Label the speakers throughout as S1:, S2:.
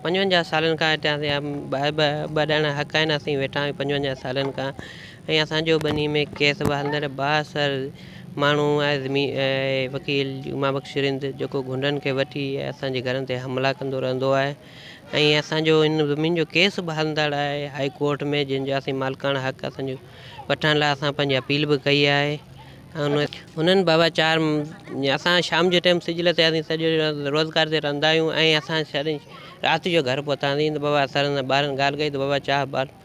S1: پنجونجاهه سالن کان هتان جا ٻائي به ٻه ڄڻا حق آهن اسين ويٺا آهيون پنجونجاهه سالن کان ۽ اسان جو ٻني ۾ ڪيس به هلندڙ بااثر ماڻهو آهي زمين وڪيل جمعه بخش رند جيڪو غنڊن کي وٺي اسان جي گهرن تي حملا ڪندو رهندو آهي ۽ اسان جو ان زمين جو ڪيس به هلندڙ آهي هائي ڪورٽ ۾ جنهن جو اسين مالڪاڻا حق اسان جو وٺڻ لاء اسان پنهنجي اپيل به ڪئي آهي ۽ انهن بابت چار اسان شام جي ٽائم سج لٿي آياسين سڄو ڏينهن روزگار تي رهندا آهيون ۽ اسان رات جو گهر پهتاسين ته بابا سر سان ٻارن ڳالهه ڪئي ته بابا چار ٻار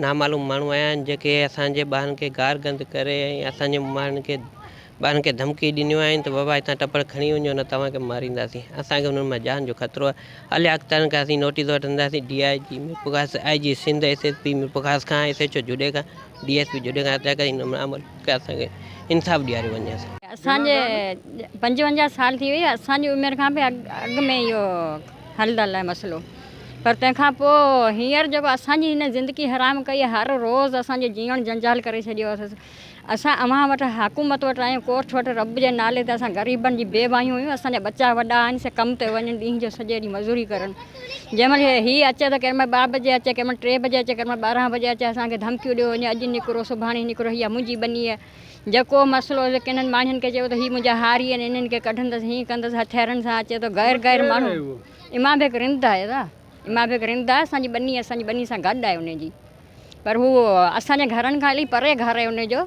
S1: نامعلوم ماڻهو آيا آهن جيڪي اسان جي ٻارن کي گار گند ڪري ۽ اسان جي ماڻهن کي ٻارن کي ڌمڪي ڏنيون آهن ته بابا هتان ٽپڙ کڻي وڃو نه توهان کي مارينداسين اسان کي انهن مان جان جو خطرو آهي علي اخترن کان اسين نوٽيس وٺنداسين D I G Mirpurkhas I G Sindh S S P Mirpurkhas کان ايس ايڇ او جوڏي کان ڊي ايس پي جوڏي کان هدايت ڪئي ته هن عمل کي اسان کي انصاف ڏياريو وڃي اسان اسان جي
S2: پنجونجاهه سال ٿي وئي اسان جي عمر کان به اڳ ۾ اهو حل ٿيل آهي مسئلو. پر تنهن کان پوء هينئر جيڪو اسان جي هن زندگي حرام ڪئي آهي، هر روز اسان جو جيئڻ جنجال ڪري ڇڏيو اٿس. اسان اوهان وٽ، حڪومت وٽ آيون، ڪورٽ وٽ، رب جي نالي تي اسان غريبن جي بي واهيون هيون، اسان جا ٻچا وڏا آهن، سي ڪم تي وڃن، ڏينهن جو سڄو ڏينهن مزوري ڪرن. جنهن مهل هي اچي ته ڪيڏمهل ٻه بجي اچي، ڪيڏمهل ٽي بجي اچي، ڪيڏمهل ٻارهن بجي اچي، اسان کي ڌمڪيون ڏيو وڃي، اڄ نڪرو، سڀاڻي نڪرو، هيء منهنجي ٻني آهي. جيڪو مسئلو هجي، ڪنھن ماڻهن کي چئبو ته هي منهنجا هاري آهن، انهن کي ڪڍندس، هيئن ڪندس، هٿيارن سان اچي ٿو، غير غير ماڻهو. امان بيگ رند آهي دا امان بيگ رند آهي اسان جي ٻني اسان جي ٻني سان گڏ آهي ان جي پر هو اسان جي گهرن کان الائي پري گهر آهي ان جو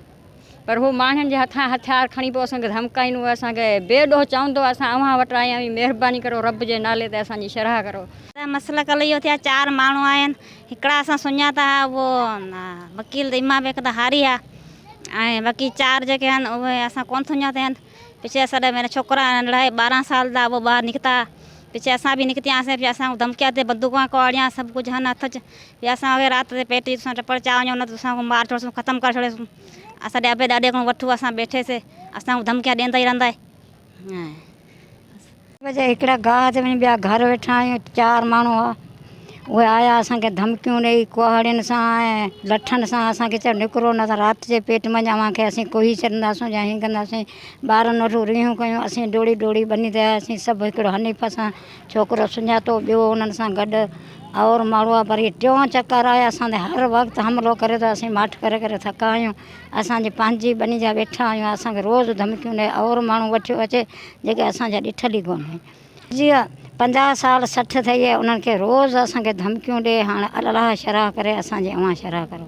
S2: پر هو ماڻهن جي هٿان هٿيار کڻي پوء اسان کي ڌمڪائيندو آهي اسان کي بي ڏوهه چوندو آهي اسان اوهان وٽ آيا آهيون مهرباني ڪرو رب جي نالي تي اسان جي شرح ڪرو اسان مسئلو ڪل اهو
S3: ٿيا چار ماڻهو آيا آهن هڪڙا اسان سڃاتا ها اهو وڪيل امان بيگ دا هاري ها ۽ باقي چار جيڪي آهن اهي اسان ڪون سڃاتا آهن پڇي اسان ڏهه مهينا ڇوڪرا ننڍڙا هي ٻارهن سال دا هو ٻاهر نڪتا پڇي اسان به نڪتيا سين پي اسان ڌمڪيا تي بندوقا ڪهاڙيا سڀ ڪجهه هن هٿ چ پي اسان کي رات تي پيٽ جي ٽپڙ چا وڃو نه اسان کي مار ڇوڙسون ختم ڪري ڇوڙي سون اسان ڏي ابي ڏاڏي کان وٺو اسان بيٺي سي اسان ڌمڪيا ڏيندا ئي رهندا هي
S2: بجي هڪڙا گاهه تي وڃي ٻيا گهر ويٺا آهيون چار ماڻهو هئا اهي آيا اسان کي ڌمڪيون ڏئي ڪهاڙين سان ۽ لٺن سان اسان کي چيو نڪرو نه ته رات جي پيٽ مان اوهان کي اسين ڪوهي ڇڏنداسون يا هيئن ڪنداسين ٻارن وٽ ريهون ڪيون اسين ڊوڙي ڊوڙي ٻني تي آياسين سڀ هڪڙو حنيف سان ڇوڪرو سڃاتو ٻيو انهن سان گڏ اور ماڙوا پر هي ٽيون چڪر آهي اسان تي هر وقت حملو ڪري ٿو اسين ماٺ ڪري ڪري ٿڪا آهيون اسان جي پنهنجي ٻني جا ويٺا آهيون اسان کي روز ڌمڪيون ڏئي اور ماڻهو وٺيو اچي جيڪي اسان جا ڏٺل ئي ڪونهن. جي پنجاهه سال سٺ ٿئي هي انهن کي روز اسان کي ڌمڪيون ڏي هاڻ الالهه شرح ڪري اسان جي اوهان شرح ڪرو.